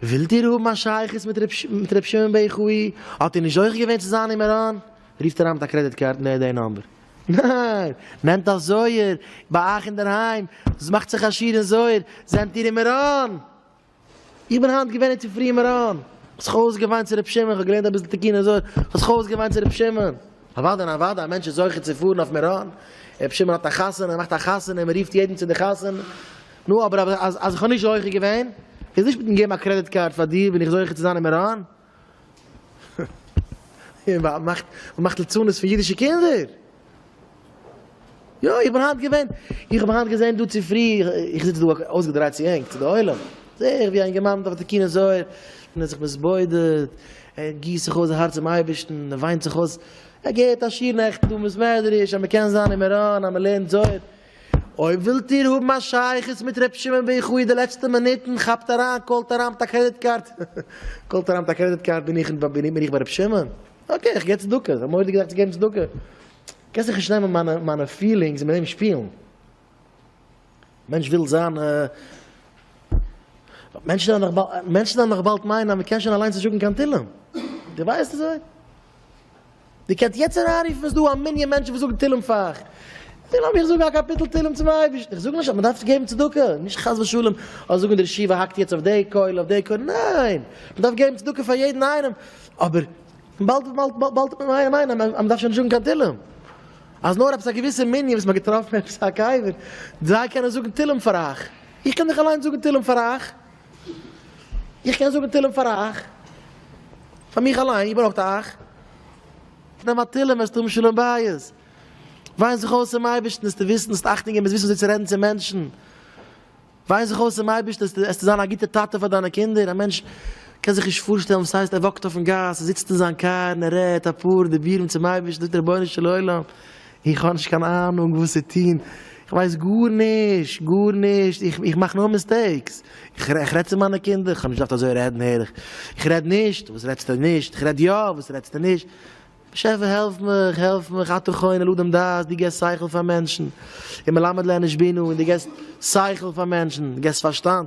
ווילט איר האבן א שייכות מיט ר' שמעון בער חו י? האט איר נישט זוכה געווען צו זיין אין מירון? רופט אריין מיט א קרעדיט קארד און ער האט די נאמבער. ניין! נעמט א זוהר ביי אייך אינדערהיים, מאכט זיך א שיעור אין זוהר, זענט איר אין מירון? איך בין היינט געווען אין צופרי אין מירון, כ'האב זיך אויסגעוויינט צו ר' שמעון, כ'האב געלערנט אביסל תקין און זוהר, כ'האב זיך אויסגעוויינט צו ר' שמעון. אוואדע און אוואדע, א מענטש איז זוכה צו פארן אויף מירון, ר' שמעון האט א חתונה, מאכט א חתונה און מ'רופט יעדן צו די חתונה. נו אבער אז אז איך האב נישט זוכה געווען, איז נישט מיטן געבן א קרעדיט קארד פאר דיר בין איך זוכה צו זיין אין מירון? און מען מאכט מען מאכט לצנות פון אידישע קינדער? יא איך בין היינט געווען, איך האב היינט געזען דא צופרי, איך זיץ דא אויסגעדרייט צו ענק צו די עולם, זעה איך ווי א אינגערמאן דארף די קינות זוהר, און ער האט זיך מתבודד, ער גיסט זיך אויס זיין הארץ צום אייבערשטן, ער וויינט זיך אויס, ער געהערט א שיעור נעכטן דא אין בית מדרש אז מען קען זיין אין מירון אז מען לערנט זוהר, אויב ווילט איר האבן א שייכות מיט ר' שמעון ב ח אין די לעצטע מינוטן, כאפט אריין, קאלט אריין מיט א קרעדיט קארד, קאלט אריין מיט א קרעדיט קארד, בין איך בין איך ביי ר' שמעון? אקעי איך גיב צדקה, איך האב מורא די געדאכט צו געבן צדקה, קענסט זיך נישט נעמען מיינע מיינע פילינגס און מיט דעם שפילן, מענטש וויל זיין מענטשן וועלן נאך באלד מענטשן וועלן נאך באלד מיינען אז מען קען שוין אליינס נישט זאגן קיין תהלים, די ווייסט אזוי? די קענסט יעצט אריינרופן איז דא א מנין מענטשן וואס זאגן תהילים פאר זיי לאמיר איך זאגן א קאפיטל תהילים צום אייבערשטן איך זאג נישט אז מען דארף געבן צדקה נישט חס ושלום אז זאגן די רשיבה האקט יעצט אויף דעי קויל אויף דעי קויל ניין מען דארף געבן צדקה פאר יעדן איינעם אבער באלד באלד ניין ניין אז מען דארף שוין נישט זאגן קיין תהילים אז נאר עפעס א געוויסע מנין וואס מען האט געטראפן עפעס א קבר זיי קענען זאגן תהילים פאר אייך איך קען דאך אליינס זאגן תהילים פאר אייך. איך קען זאגן תהלים פאר אייך, פאר מיך אליין, איר ברויכט אייך נעמען א תהלים וועסטו האבן שלום בית, וויין זיך אויס צום אייבערשטן עסטו וויסן האסט אכטונג און ביסט וויסן וויאזוי צו רעדן צו מענטשן, וויין זיך אויס צום אייבערשטן עסטו זיין א גוטע טאטע פאר דיינע קינדער, א מענטש קען זיך נישט פארשטעלן וואס הייסט ער וואקט אויפן גאס, ער זיצט אין זיין קאר און ער רעדט אפאר דיבורים צום אייבערשטן, זאגט רבונו של עולם, איך האב נישט קיין אהנונג וואס צו טון, איך ווייס גארנישט, גארנישט, איך מאך נאר מיסטעיקס, איך רעד צו מיינע קינדער, איך האב נישט געדארפט אזוי רעדן הער איך, איך רעד נישט, וואס רעדסטו נישט, איך רעד יא, וואס רעדסטו נישט, באשעפער העלף מיך, העלף מיך, אתה חונן לאדם דעת, דו געסט שכל פאר מענטשן, ומלמד לאנוש בינה, און דו געסט שכל פאר מענטשן, דו געסט פארשטאנד,